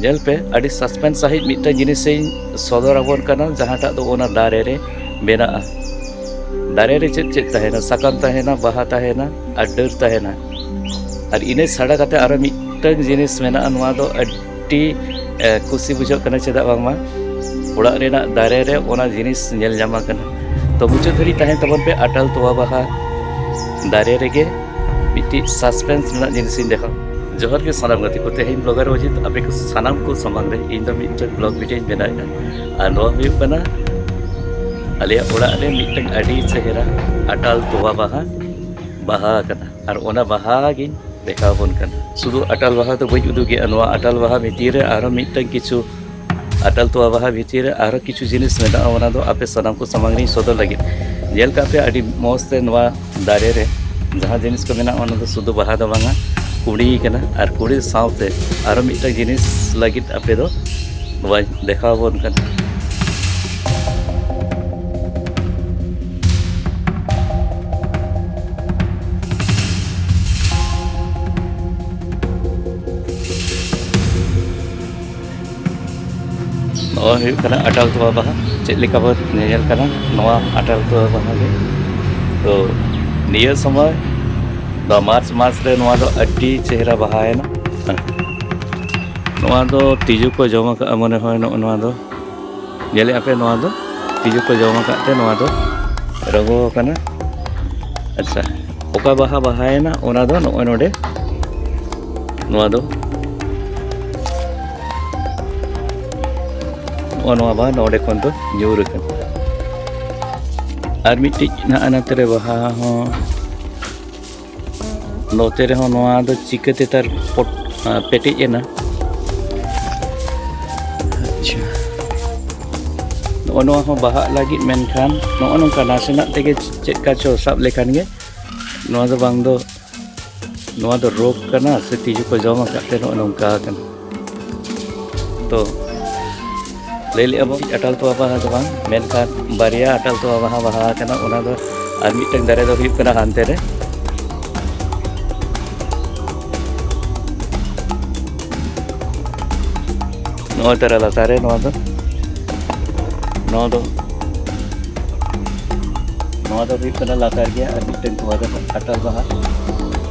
ᱧᱮᱞ ᱯᱮ ᱟᱹᱰᱤ ᱥᱟᱥᱯᱮᱱᱥ ᱥᱟᱺᱦᱤᱡ ᱢᱤᱫᱴᱟᱝ ᱡᱤᱱᱤᱥ ᱤᱧ ᱥᱚᱫᱚᱨ ᱟᱵᱚᱱ ᱠᱟᱱᱟ ᱡᱟᱦᱟᱸᱴᱟᱜ ᱫᱚ ᱚᱱᱟ ᱫᱟᱨᱮ ᱨᱮ ᱢᱮᱱᱟᱜᱼᱟ ᱫᱟᱨᱮ ᱨᱮ ᱪᱮᱫ ᱪᱮᱫ ᱛᱟᱦᱮᱱᱟ ᱥᱟᱠᱟᱢ ᱛᱟᱦᱮᱱᱟ ᱵᱟᱦᱟ ᱛᱟᱦᱮᱱᱟ ᱟᱨ ᱰᱟᱹᱨ ᱛᱟᱦᱮᱱᱟ ᱟᱨ ᱤᱱᱟᱹ ᱪᱷᱟᱰᱟ ᱠᱟᱛᱮ ᱟᱨᱚ ᱢᱤᱫᱴᱟᱝ ᱡᱤᱱᱤᱥ ᱢᱮᱱᱟᱜᱼᱟ ᱱᱚᱣᱟ ᱫᱚ ᱟᱹᱰᱤ ᱠᱩᱥᱤ ᱵᱩᱡᱷᱟᱹᱜ ᱠᱟᱱᱟ ᱪᱮᱫᱟᱜ ᱵᱟᱝᱢᱟ ᱚᱲᱟᱜ ᱨᱮᱱᱟᱜ ᱫᱟᱨᱮ ᱨᱮ ᱚᱱᱟ ᱡᱤᱱᱤᱥ ᱧᱮᱞ ᱧᱟᱢ ᱟᱠᱟᱱᱟ ᱛᱚ ᱢᱩᱪᱟᱹᱫ ᱫᱷᱟᱹᱨᱤᱡ ᱛᱟᱦᱮᱱ ᱛᱟᱵᱚᱱ ᱯᱮ ᱟᱴᱟᱞ ᱛᱚᱣᱟ ᱵᱟᱦᱟ ᱫᱟᱨᱮ ᱨᱮᱜᱮ ᱢᱤᱫᱴᱤᱡ ᱥᱟᱥᱯᱮᱱᱥ ᱨᱮᱱᱟᱜ ᱡᱤᱱᱤᱥᱤᱧ ᱫᱮᱠᱷᱟᱣ ᱡᱚᱦᱟᱨ ᱜᱮ ᱥᱟᱱᱟᱢ ᱜᱟᱛᱮ ᱠᱚ ᱛᱮᱦᱮᱧ ᱵᱞᱚᱜᱟᱨ ᱚᱡᱤᱛ ᱟᱯᱮ ᱠᱚ ᱥᱟᱱᱟᱢ ᱠᱚ ᱥᱟᱢᱟᱝ ᱨᱮ ᱤᱧ ᱫᱚ ᱢᱤᱫᱴᱟᱝ ᱵᱞᱚᱜ ᱵᱷᱤᱰᱤᱭᱳ ᱤᱧ ᱵᱮᱱᱟᱣᱮᱫᱼᱟ ᱟᱨ ᱱᱚᱣᱟ ᱦᱩᱭᱩᱜ ᱠᱟᱱᱟ ᱟᱞᱮᱭᱟᱜ ᱚᱲᱟᱜ ᱨᱮ ᱢᱤᱫᱴᱟᱝ ᱟᱹᱰᱤ ᱪᱮᱦᱨᱟ ᱟᱴᱟᱞ ᱛᱚᱣᱟ ᱵᱟᱦᱟ ᱵᱟᱦᱟ ᱟᱠᱟᱱᱟ ᱟᱨ ᱚᱱᱟ ᱵᱟᱦᱟ ᱜᱤᱧ ᱫᱮᱠᱷᱟᱣ ᱟᱵᱚᱱ ᱠᱟᱱᱟ ᱥᱩᱫᱷᱩ ᱟᱴᱟᱞ ᱵᱟᱦᱟ ᱫᱚ ᱵᱟᱹᱧ ᱩᱫᱩᱜᱮᱫᱼᱟ ᱱᱚᱣᱟ ᱟᱴᱟᱞ ᱵᱟᱦᱟ ᱵᱷᱤᱛᱤᱨ ᱨᱮ ᱟᱨᱦᱚᱸ ᱢᱤᱫᱴᱟᱝ ᱠᱤᱪᱷᱩ ᱟᱴᱟᱞ ᱛᱚᱣᱟ ᱵᱟᱦᱟ ᱵᱷᱤᱛᱤᱨ ᱨᱮ ᱟᱨᱦᱚᱸ ᱠᱤᱪᱷᱩ ᱡᱤᱱᱤᱥ ᱢᱮᱱᱟᱜᱼᱟ ᱚᱱᱟ ᱫᱚ ᱟᱯᱮ ᱥᱟᱱᱟᱢ ᱠᱚ ᱥᱟᱢᱟᱝ ᱨᱤᱧ ᱥᱚᱫᱚᱨ ᱞᱟᱹᱜᱤᱫ ᱧᱮᱞ ᱠᱟᱜ ᱯᱮ ᱟᱹᱰᱤ ᱢᱚᱡᱽ ᱛᱮ ᱱᱚᱣᱟ ᱫᱟᱨᱮ ᱨᱮ ᱡᱟᱦᱟᱸ ᱡᱤᱱᱤᱥ ᱠᱚ ᱢᱮᱱᱟᱜᱼᱟ ᱚᱱᱟ ᱫᱚ ᱥᱩᱫᱷᱩ ᱵᱟᱦᱟ ᱫᱚ ᱵᱟᱝᱟ ᱠᱩᱲᱤ ᱠᱟᱱᱟ ᱟᱨ ᱠᱩᱲᱤ ᱥᱟᱶᱛᱮ ᱟᱨᱦᱚᱸ ᱢᱤᱫᱴᱟᱝ ᱡᱤᱱᱤᱥ ᱞᱟᱹᱜᱤᱫ ᱟᱯᱮ ᱫᱚ ᱱᱚᱣᱟ ᱫᱮᱠᱷᱟᱣ ᱟᱵᱚᱱ ᱠᱟᱱᱟ ᱱᱚᱣᱟ ᱦᱩᱭᱩᱜ ᱠᱟᱱᱟ ᱟᱴᱟᱞ ᱛᱚᱣᱟ ᱵᱟᱦᱟ ᱪᱮᱫ ᱞᱮᱠᱟ ᱵᱚᱱ ᱧᱮᱧᱮᱞ ᱠᱟᱱᱟ ᱱᱚᱣᱟ ᱟᱴᱟᱞ ᱛᱚᱣᱟ ᱵᱟᱦᱟ ᱜᱮ ᱛᱚ ᱱᱤᱭᱟᱹ ᱥᱚᱢᱚᱭ ᱫᱚ ᱢᱟᱨᱪ ᱢᱟᱥ ᱨᱮ ᱱᱚᱣᱟ ᱫᱚ ᱟᱹᱰᱤ ᱪᱮᱦᱨᱟ ᱵᱟᱦᱟᱭᱮᱱᱟ ᱱᱚᱣᱟ ᱫᱚ ᱛᱤᱡᱩ ᱠᱚ ᱡᱚᱢ ᱟᱠᱟᱫᱼᱟ ᱢᱚᱱᱮ ᱦᱚᱭ ᱱᱚᱜᱼᱚ ᱱᱚᱣᱟ ᱫᱚ ᱧᱮᱞᱮ ᱟᱯᱮ ᱱᱚᱣᱟ ᱫᱚ ᱛᱤᱡᱩ ᱠᱚ ᱡᱚᱢ ᱟᱠᱟᱫ ᱛᱮ ᱱᱚᱣᱟ ᱫᱚ ᱨᱚᱜᱚ ᱟᱠᱟᱱᱟ ᱟᱪᱪᱷᱟ ᱚᱠᱟ ᱵᱟᱦᱟ ᱵᱟᱦᱟᱭᱮᱱᱟ ᱚᱱᱟ ᱫᱚ ᱱᱚᱜᱼᱚᱭ ᱱᱚᱰᱮ ᱱᱚᱣᱟ ᱫᱚ ᱱᱚᱜᱼᱚ ᱱᱚᱣᱟ ᱵᱟᱦᱟ ᱱᱚᱰᱮ ᱠᱷᱚᱱ ᱫᱚ ᱧᱩᱨ ᱟᱠᱟᱱᱟ ᱟᱨ ᱢᱤᱫᱴᱤᱡ ᱱᱟᱜ ᱱᱟᱛᱮ ᱨᱮ ᱵᱟᱦᱟ ᱦᱚᱸ ᱱᱚᱛᱮ ᱨᱮᱦᱚᱸ ᱱᱚᱣᱟ ᱫᱚ ᱪᱤᱠᱟᱹᱛᱮ ᱛᱟᱨ ᱯᱚᱴ ᱯᱮᱴᱮᱡ ᱮᱱᱟ ᱟᱪᱪᱷᱟ ᱱᱚᱜᱼᱚ ᱱᱚᱣᱟ ᱦᱚᱸ ᱵᱟᱦᱟᱜ ᱞᱟᱹᱜᱤᱫ ᱢᱮᱱᱠᱷᱟᱱ ᱱᱚᱜᱼᱚ ᱱᱚᱝᱠᱟ ᱱᱟᱥᱮᱱᱟᱜ ᱛᱮᱜᱮ ᱪᱮᱫ ᱠᱟ ᱪᱚ ᱥᱟᱵ ᱞᱮᱠᱷᱟᱱ ᱜᱮ ᱱᱚᱣᱟ ᱫᱚ ᱵᱟᱝ ᱫᱚ ᱱᱚᱣᱟ ᱫᱚ ᱨᱳᱜᱽ ᱠᱟᱱᱟ ᱥᱮ ᱛᱤᱡᱩ ᱠᱚ ᱡᱚᱢ ᱟᱠᱟᱫ ᱛᱮ ᱱᱚᱜᱼᱚ ᱱᱚᱝᱠᱟ ᱟᱠᱟᱱᱟ ᱛᱚ ᱞᱟᱹᱭ ᱞᱮᱜᱼᱟ ᱵᱚᱱ ᱟᱴᱟᱞ ᱛᱚᱣᱟ ᱵᱟᱦᱟ ᱫᱚ ᱵᱟᱝ ᱢᱮᱱᱠᱷᱟᱱ ᱵᱟᱨᱭᱟ ᱟᱴᱟᱞ ᱛᱚᱣᱟ ᱵᱟᱦᱟ ᱵᱟᱦᱟ ᱠᱟᱱᱟ ᱚᱱᱟ ᱫᱚ ᱟᱨ ᱢᱤᱫᱴᱟᱝ ᱫᱟᱨᱮ ᱫᱚ ᱦᱩᱭᱩᱜ ᱠᱟᱱᱟ ᱦᱟᱱᱛᱮ ᱨᱮ ᱱᱚᱜᱼᱚᱭ ᱛᱟᱨᱟ ᱞᱟᱛᱟᱨ ᱨᱮ ᱱᱚᱣᱟ ᱫᱚ ᱱᱚᱣᱟ ᱫᱚ ᱱᱚᱣᱟ ᱫᱚ ᱦᱩᱭᱩᱜ ᱠᱟᱱᱟ ᱞᱟᱛᱟᱨ ᱜᱮᱭᱟ ᱟᱨ ᱢᱤᱫᱴᱟᱝ ᱛᱚᱣᱟ ᱫᱚ ᱟᱴᱟᱞ ᱵᱟᱦᱟ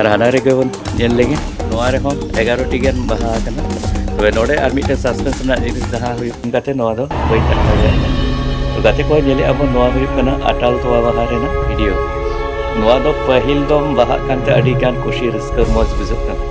ᱟᱨ ᱦᱟᱱᱟ ᱨᱮᱜᱮ ᱵᱚᱱ ᱧᱮᱞ ᱞᱮᱜᱮ ᱱᱚᱣᱟ ᱨᱮᱦᱚᱸ ᱮᱜᱟᱨᱚᱴᱤ ᱜᱟᱱ ᱵᱟᱦᱟ ᱟᱠᱟᱱᱟ ᱛᱚᱵᱮ ᱱᱚᱰᱮ ᱟᱨ ᱢᱤᱫᱴᱮᱱ ᱥᱟᱥᱯᱮᱱᱥ ᱨᱮᱱᱟᱜ ᱡᱤᱱᱤᱥ ᱡᱟᱦᱟᱸ ᱦᱩᱭᱩᱜ ᱠᱟᱛᱮ ᱱᱚᱣᱟ ᱫᱚ ᱵᱟᱹᱧ ᱟᱴᱠᱟᱣ ᱫᱟᱲᱮᱭᱟᱜ ᱠᱟᱱᱟ ᱜᱟᱛᱮ ᱠᱚ ᱧᱮᱞᱮᱫ ᱟᱵᱚᱱ ᱱᱚᱣᱟ ᱦᱩᱭᱩᱜ ᱠᱟᱱᱟ ᱟᱴᱟᱞ ᱛᱚᱣᱟ ᱵᱟᱦᱟ ᱨᱮᱱᱟᱜ ᱵᱷᱤᱰᱤᱭᱳ ᱱᱚᱣᱟ ᱫᱚ ᱯᱟᱹᱦᱤᱞ ᱫᱚᱢ ᱵᱟᱦᱟᱜ ᱠᱟᱱᱛᱮ ᱟᱹᱰᱤ ᱜᱟᱱ ᱠᱩᱥᱤ ᱨᱟᱹᱥᱠᱟᱹ ᱢᱚᱡᱽ ᱵᱩᱡᱷᱟᱹᱜ ᱠᱟᱱᱟ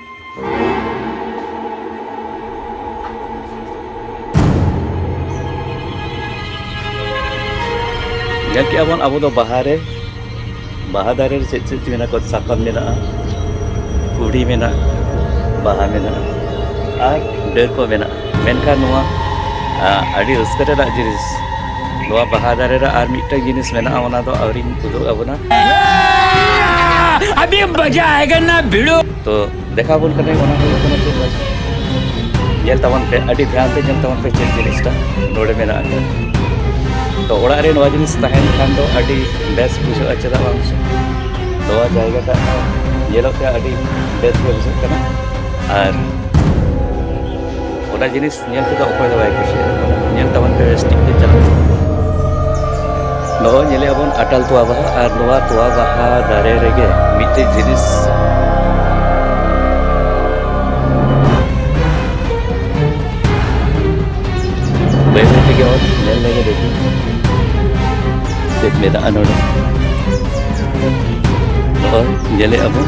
ᱧᱮᱞ ᱠᱮᱜᱼᱟ ᱵᱚᱱ ᱟᱵᱚ ᱫᱚ ᱵᱟᱦᱟ ᱨᱮ ᱵᱟᱦᱟ ᱫᱟᱨᱮ ᱨᱮ ᱪᱮᱫ ᱪᱮᱫ ᱢᱮᱱᱟᱜ ᱠᱚᱣᱟ ᱥᱟᱠᱟᱢ ᱢᱮᱱᱟᱜᱼᱟ ᱠᱩᱲᱤ ᱢᱮᱱᱟᱜᱼᱟ ᱵᱟᱦᱟ ᱢᱮᱱᱟᱜᱼᱟ ᱟᱨ ᱰᱟᱹᱨ ᱠᱚ ᱢᱮᱱᱟᱜᱼᱟ ᱢᱮᱱᱠᱷᱟᱱ ᱱᱚᱣᱟ ᱟᱹᱰᱤ ᱨᱟᱹᱥᱠᱟᱹ ᱨᱮᱱᱟᱜ ᱡᱤᱱᱤᱥ ᱱᱚᱣᱟ ᱵᱟᱦᱟ ᱫᱟᱨᱮ ᱨᱮ ᱟᱨ ᱢᱤᱫᱴᱟᱝ ᱡᱤᱱᱤᱥ ᱢᱮᱱᱟᱜᱼᱟ ᱚᱱᱟ ᱫᱚ ᱟᱹᱣᱨᱤᱧ ᱩᱫᱩᱜ ᱟᱵᱚᱱᱟ ᱟᱹᱰᱤ ᱢᱚᱡᱟ ᱟᱭᱮᱜᱟ ᱱᱟ ᱵᱷᱤᱲᱳ ᱛᱚ ᱫᱮᱠᱷᱟᱣ ᱵᱚᱱ ᱠᱟᱱᱟ ᱚᱱᱟ ᱦᱩᱭᱩᱜ ᱠᱟᱱᱟ ᱪᱮᱫ ᱵᱟᱡᱟ ᱧᱮᱞ ᱛᱟᱵᱚᱱ ᱯᱮ ᱟᱹᱰᱤ ᱫᱷᱮᱭᱟᱱ ᱛᱮ ᱧᱮᱞ ᱛᱟᱵᱚᱱ ᱯᱮ ᱪᱮᱫ ᱡᱤᱱᱤᱥᱴᱟ ᱱᱚᱰᱮ ᱢᱮᱱᱟᱜ ᱟᱠᱟᱫᱟ ᱛᱚ ᱚᱲᱟᱜ ᱨᱮ ᱱᱚᱣᱟ ᱡᱤᱱᱤᱥ ᱛᱟᱦᱮᱱ ᱠᱷᱟᱱ ᱫᱚ ᱟᱹᱰᱤ ᱵᱮᱥ ᱵᱩᱡᱷᱟᱹᱜᱼᱟ ᱪᱮᱫᱟᱜ ᱵᱟᱝ ᱥᱮ ᱱᱚᱣᱟ ᱡᱟᱭᱜᱟ ᱴᱟᱜ ᱧᱮᱞᱚᱜ ᱛᱮ ᱟᱹᱰᱤ ᱵᱮᱥ ᱜᱮ ᱵᱩᱡᱷᱟᱹᱜ ᱠᱟᱱᱟ ᱟᱨ ᱚᱱᱟ ᱡᱤᱱᱤᱥ ᱧᱮᱞ ᱛᱮᱫᱚ ᱚᱠᱚᱭ ᱫᱚ ᱵᱟᱭ ᱠᱩᱥᱤᱭᱟᱜᱼᱟ ᱧᱮᱞ ᱛᱟᱵᱚᱱ ᱯᱮ ᱵᱮᱥ ᱴᱷᱤᱠ ᱛᱮ ᱪᱟᱞᱟᱜ ᱱᱚᱜᱼᱚᱭ ᱧᱮᱞᱮᱫ ᱟᱵᱚᱱ ᱟᱴᱟᱞ ᱛᱚᱣᱟ ᱵᱟᱦᱟ ᱟᱨ ᱱᱚᱣᱟ ᱛᱚᱣᱟ ᱵᱟᱦᱟ ᱫᱟᱨᱮ ᱨᱮᱜᱮ ᱢᱤᱫᱴᱮᱡ ᱡᱤᱱᱤᱥ ᱵᱟᱹᱭ ᱵᱟᱹᱭ ᱛᱮᱜᱮ ᱚᱛ ᱧᱮᱞ ᱞᱮᱜᱮ ᱫᱮᱠᱷᱤ ᱪᱮᱫ ᱢᱮᱱᱟᱜᱼᱟ ᱱᱚᱰᱮ ᱱᱚᱜᱼᱚᱭ ᱧᱮᱞᱮᱫ ᱟᱵᱚᱱ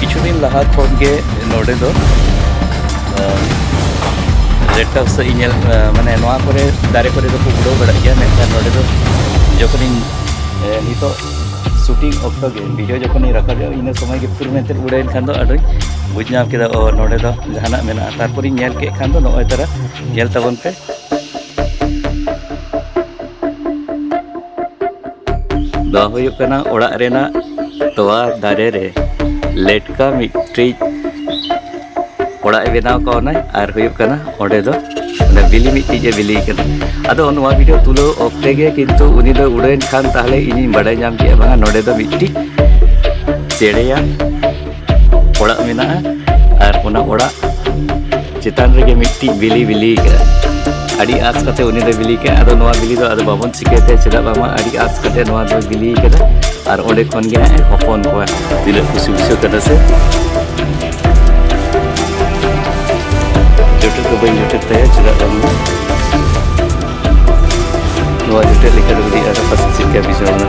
ᱠᱤᱪᱷᱩ ᱫᱤᱱ ᱞᱟᱦᱟ ᱠᱷᱚᱱ ᱜᱮ ᱱᱚᱰᱮ ᱫᱚ ᱨᱮᱰ ᱴᱟᱯᱥ ᱤᱧ ᱧᱮᱞ ᱢᱟᱱᱮ ᱱᱚᱣᱟ ᱠᱚᱨᱮ ᱫᱟᱨᱮ ᱠᱚᱨᱮ ᱫᱚᱠᱚ ᱩᱰᱟᱹᱣ ᱵᱟᱲᱟᱜ ᱜᱮᱭᱟ ᱢᱮᱱᱠᱷᱟᱱ ᱱᱚᱰᱮ ᱫᱚ ᱡᱚᱠᱷᱚᱱᱤᱧ ᱱᱤᱛᱚᱜ ᱥᱩᱴᱤᱝ ᱚᱠᱛᱚ ᱜᱮ ᱵᱷᱤᱰᱤᱭᱳ ᱡᱚᱠᱷᱚᱱᱤᱧ ᱨᱟᱠᱟᱵᱮᱫᱼᱟ ᱤᱱᱟᱹ ᱥᱚᱢᱚᱭ ᱜᱮ ᱯᱷᱩᱨ ᱢᱮᱱᱛᱮ ᱩᱰᱟᱹᱭᱮᱱ ᱠᱷᱟᱱ ᱫᱚ ᱟᱫᱚᱧ ᱵᱩᱡᱽ ᱧᱟᱢ ᱠᱮᱫᱟ ᱚ ᱱᱚᱰᱮ ᱫᱚ ᱡᱟᱦᱟᱱᱟᱜ ᱢᱮᱱᱟᱜᱼᱟ ᱛᱟᱨᱯᱚᱨᱤᱧ ᱧᱮᱞ ᱠᱮᱫ ᱠᱷᱟᱱ ᱫᱚ ᱱᱚᱜᱼᱚᱭ ᱛᱟᱨᱟ ᱧᱮᱞ ᱛᱟᱵᱚᱱ ᱯᱮ ᱫᱚ ᱦᱩᱭᱩᱜ ᱠᱟᱱᱟ ᱚᱲᱟᱜ ᱨᱮᱱᱟᱜ ᱛᱚᱣᱟ ᱫᱟᱨᱮ ᱨᱮ ᱞᱮᱴᱠᱟ ᱢᱤᱫᱴᱤᱡ ᱚᱲᱟᱜ ᱮ ᱵᱮᱱᱟᱣ ᱠᱟᱣᱱᱟᱭ ᱟᱨ ᱦᱩᱭᱩᱜ ᱠᱟᱱᱟ ᱚᱸᱰᱮ ᱫᱚ ᱚᱱᱟ ᱵᱤᱞᱤ ᱢᱤᱫᱴᱤᱡ ᱮ ᱵᱤᱞᱤ ᱠᱟᱱᱟ ᱟᱫᱚ ᱱᱚᱣᱟ ᱵᱷᱤᱰᱤᱭᱳ ᱛᱩᱞᱟᱹᱣ ᱚᱠᱛᱮ ᱜᱮ ᱠᱤᱱᱛᱩ ᱩᱱᱤ ᱫᱚ ᱩᱰᱟᱹᱣᱮᱱ ᱠᱷᱟᱱ ᱛᱟᱦᱞᱮ ᱤᱧᱤᱧ ᱵᱟᱰᱟᱭ ᱧᱟᱢ ᱠᱮᱫᱼᱟ ᱵᱟᱝᱟ ᱱᱚᱸᱰᱮ ᱫᱚ ᱢᱤᱫᱴᱤᱡ ᱪᱮᱬᱮᱭᱟ ᱚᱲᱟᱜ ᱢᱮᱱᱟᱜᱼᱟ ᱟᱨ ᱚᱱᱟ ᱚᱲᱟᱜ ᱪᱮᱛᱟᱱ ᱨᱮᱜᱮ ᱢᱤᱫᱴᱤᱡ ᱵᱤᱞᱤ ᱵᱤᱞᱤ ᱠᱟᱜᱼᱟ ᱟᱹᱰᱤ ᱟᱸᱥ ᱠᱟᱛᱮ ᱩᱱᱤ ᱫᱚ ᱵᱤᱞᱤ ᱠᱟᱜᱼᱟ ᱟᱫᱚ ᱱᱚᱣᱟ ᱵᱤᱞᱤ ᱫᱚ ᱟᱫᱚ ᱵᱟᱵᱚᱱ ᱪᱤᱠᱟᱹᱛᱮ ᱪᱮᱫᱟᱜ ᱵᱟᱝᱟ ᱟᱹᱰᱤ ᱟᱸᱥ ᱠᱟᱛᱮ ᱱᱚᱣᱟ ᱫᱚ ᱵᱤᱞᱤ ᱠᱟᱫᱟ ᱟᱨ ᱚᱸᱰᱮ ᱠᱷᱚᱱ ᱜᱮ ᱦᱟᱸᱜ ᱦᱚᱯᱚᱱ ᱠᱚᱣᱟ ᱛᱤᱱᱟᱹᱜ ᱠᱩᱥᱤ ᱵᱩᱡᱷᱟᱹᱜ ᱠᱟᱱᱟ ᱥᱮ ᱡᱚᱴᱮᱫ ᱫᱚ ᱵᱟᱹᱧ ᱡᱚᱴᱮᱫ ᱛᱟᱭᱟ ᱪᱮᱫᱟᱜ ᱵᱟᱝᱢᱟ ᱱᱚᱣᱟ ᱡᱚᱴᱮᱫ ᱞᱮᱠᱟ ᱫᱚ ᱟᱹᱰᱤ ᱟᱨ ᱯᱟᱥᱮ ᱪᱮᱫ ᱞᱮᱠᱟ ᱵᱩᱡᱷᱟᱹᱣ ᱮᱱᱟ